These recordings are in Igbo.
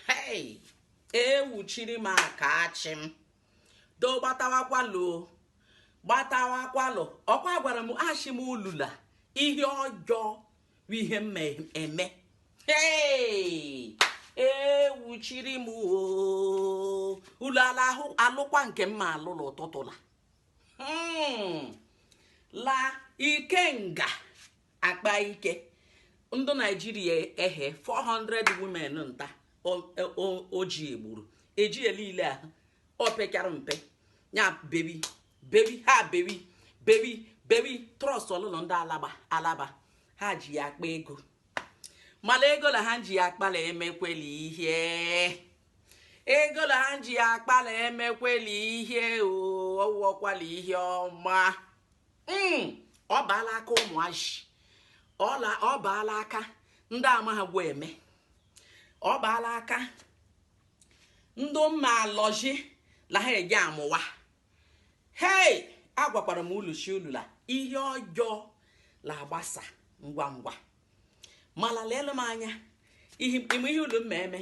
hei ewuchiri m aka ashị m do gbatawakwalụ gbatawakwalụ ọkwa agwara m ashị m ulu la ihe ọjọọ bụ ihe m ma eme hei ewuchiri m ulu alụkwa nke m ma alụla ụtụtụ la hmm. la ikenga akpa ike ndị naijiria ehe 400 women nta oji egburu eji elile ahụ opekara mpe ya bebi bebi ha bebi bebi bebi trust ọlụlụ ndị alaba alaba ha ji ya akpa ego mala ego la ha ji ya akpala emekweli ihe ego la ha ji ya akpala emekweli ihe ọ wụọkwala ihe ọma hmm, ọ baala aka ụmụazị ọ baala aka ndị ama ha gwa eme ọ baala aka ndị mma alọji la ha eji amụwa hei agwakwara m ulu shị ulu la ihe ọjọọ la agbasa ngwa ngwa mala leelụ m anya ihe ime ihe ulu m ma eme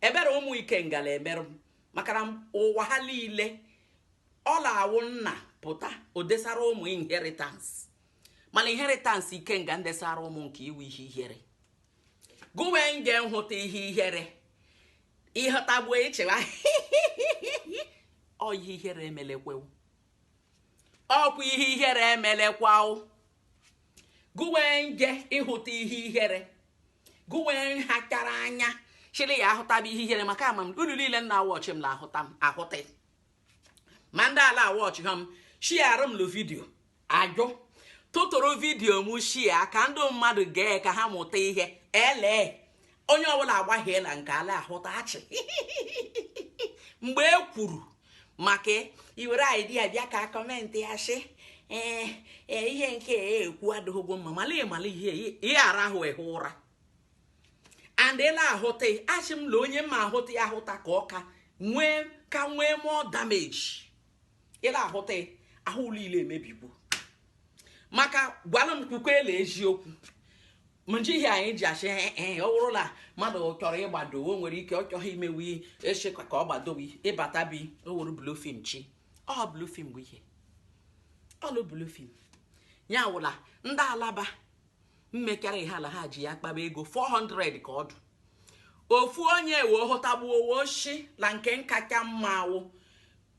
ebere ụmụ ikenga la-emerụ m maka na ụwa ha niile ọ la-awụ nna pụta o desara ụmụ inheritance mana inheritance ikenga ndesara ụmụ nke ya wụ ihe ihere gụwe nje nhụta ihe ihere ị hụtagbuo i chewa ọ ihe ihere emelekwawo ọkwa ihe ihere emelekwawo gụwee nje ịhụta ihe ihere gụwee nhachara anya chịrị ya ahụtaba ihe ihere maka ama m unu niile na-a watch m la-ahụta m ahụta ma ndị ala watch ha m shiara m lụ video a just tụtụrụ video m share ka ndị mmadụ gee ka ha mụta ihe ele onye ọbụla agbaghịela nke a la-ahụta ashị mgbe e kwuru maka iwere idea bịa ka comment ya sị ee eh, eh, ihe nke e ekwu adịghịgwo mma mala ịmala ihe ihe ara ahụ ehe ụra and ị la-ahụta ashị m la onye ma ahụta ya ahụta ka ọ ka nwee ka nwee more damage ị la-ahụta ahụ niile emebigbo maka gwalụ m kwukwe la eziokwu mji ihe anyị ji ashị ee ọ wụrụ la mmadụ chọrọ ịgbado o nwere ike ọ chọghị imewe echekwa ka ọ gbadowe ịbata bi o were blue film chi ọ blue film bụ ihe ọlụ blue film ya wụla ndị alaba mmekara ihe ala ha ji ya kpaba ego 400 ka ọdụ ofu onye wee hụtagbuo o shi la nke nkacha mma awụ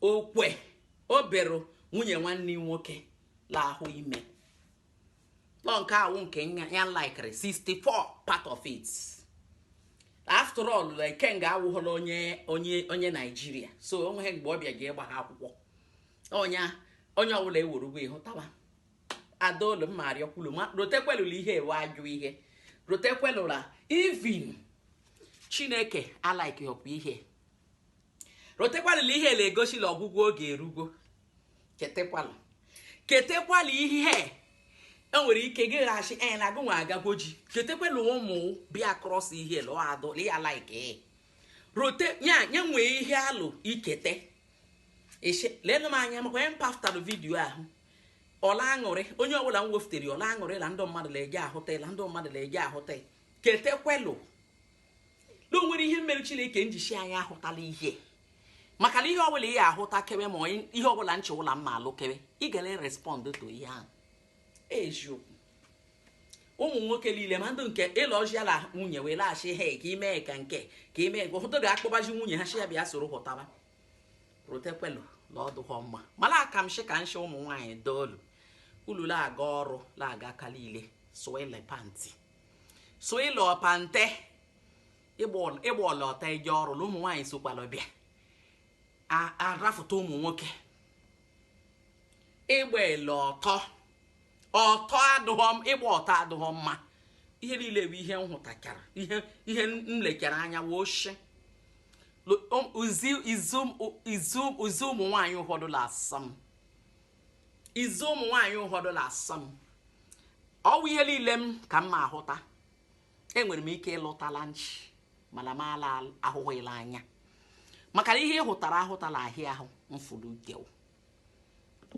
okwe obere nwunye nwanne nwoke la ahụ ime nọ nke awụ nke ya likere 64 part of it after all Ikenga awụghọla onye Nigeria so o nweghị mgbe ọ bịa ga ịgba ha akwụkwọ onye onye ọbụla ewerugbo ịhụtawa adaolu mma arịọkwulu ma rotekwelụ la ihe a wụ ajọ ihe rotekwelụ la even Chineke alikeghọkwa ihe rotekwali la ihe na-egosi la ọgwụgwụ oge erugo chetekwala ketekwala ihe enwere ike gị ghachi anya na agụnwa agagwo ji chetekwala ụmụ bịa cross ihe lụọ adụ ya like rote nya nwee ihe alụ ikete leenụ m anya maka onye mpaftalụ video ahụ ọla aṅụrị onye ọbụla m weftere ọla aṅụrị la ndị mmadụ na-eji ahụta ketekwelụ na o nwere ihe mere Chineke nji shi anya ahụtala ihe maka na ihe ọbụla ihe ahụta kewe ma ihe ọbụla nche ụla mma alụ kewe ị gara respond to ihe ahụ eziokwu ụmụ nwoke niile ma ndị nke ịlụ ọjịala nwunye wee laghachi ha ka ime ka nke ka ime nke ụfọdụ ga-akpọbazi nwunye ha shi ya bịa soro hụtaba rotekwelu na ọdụghọ mma mara aka m shi ka nshi ụmụ nwaanyị doolu ulu la-aga ọrụ la-aga aka niile sụọ ile pantị so ịlụ ọpante ịgba ọla ọtọ eje ọrụ na ụmụ nwaanyị sokwala bịa arafụta ụmụ nwoke ịgba ele ọtọ ịgba ọtọ adụghọ mma ihe niile bụ ihe m hụtachara ihe m lechara anya wee oshi izu ụmụ nwaanyị ụfọdụ la asọ m izi ụmụ nwaanyị ụfọdụ na-asọ m ọ wụ ihe niile m ka m ma ahụta enwere m ike ịlụta la nchi mana m ala ahụhụ la anya maka na ihe ị hụtara ahụtala ahịa ahụ mfụrụ ugewu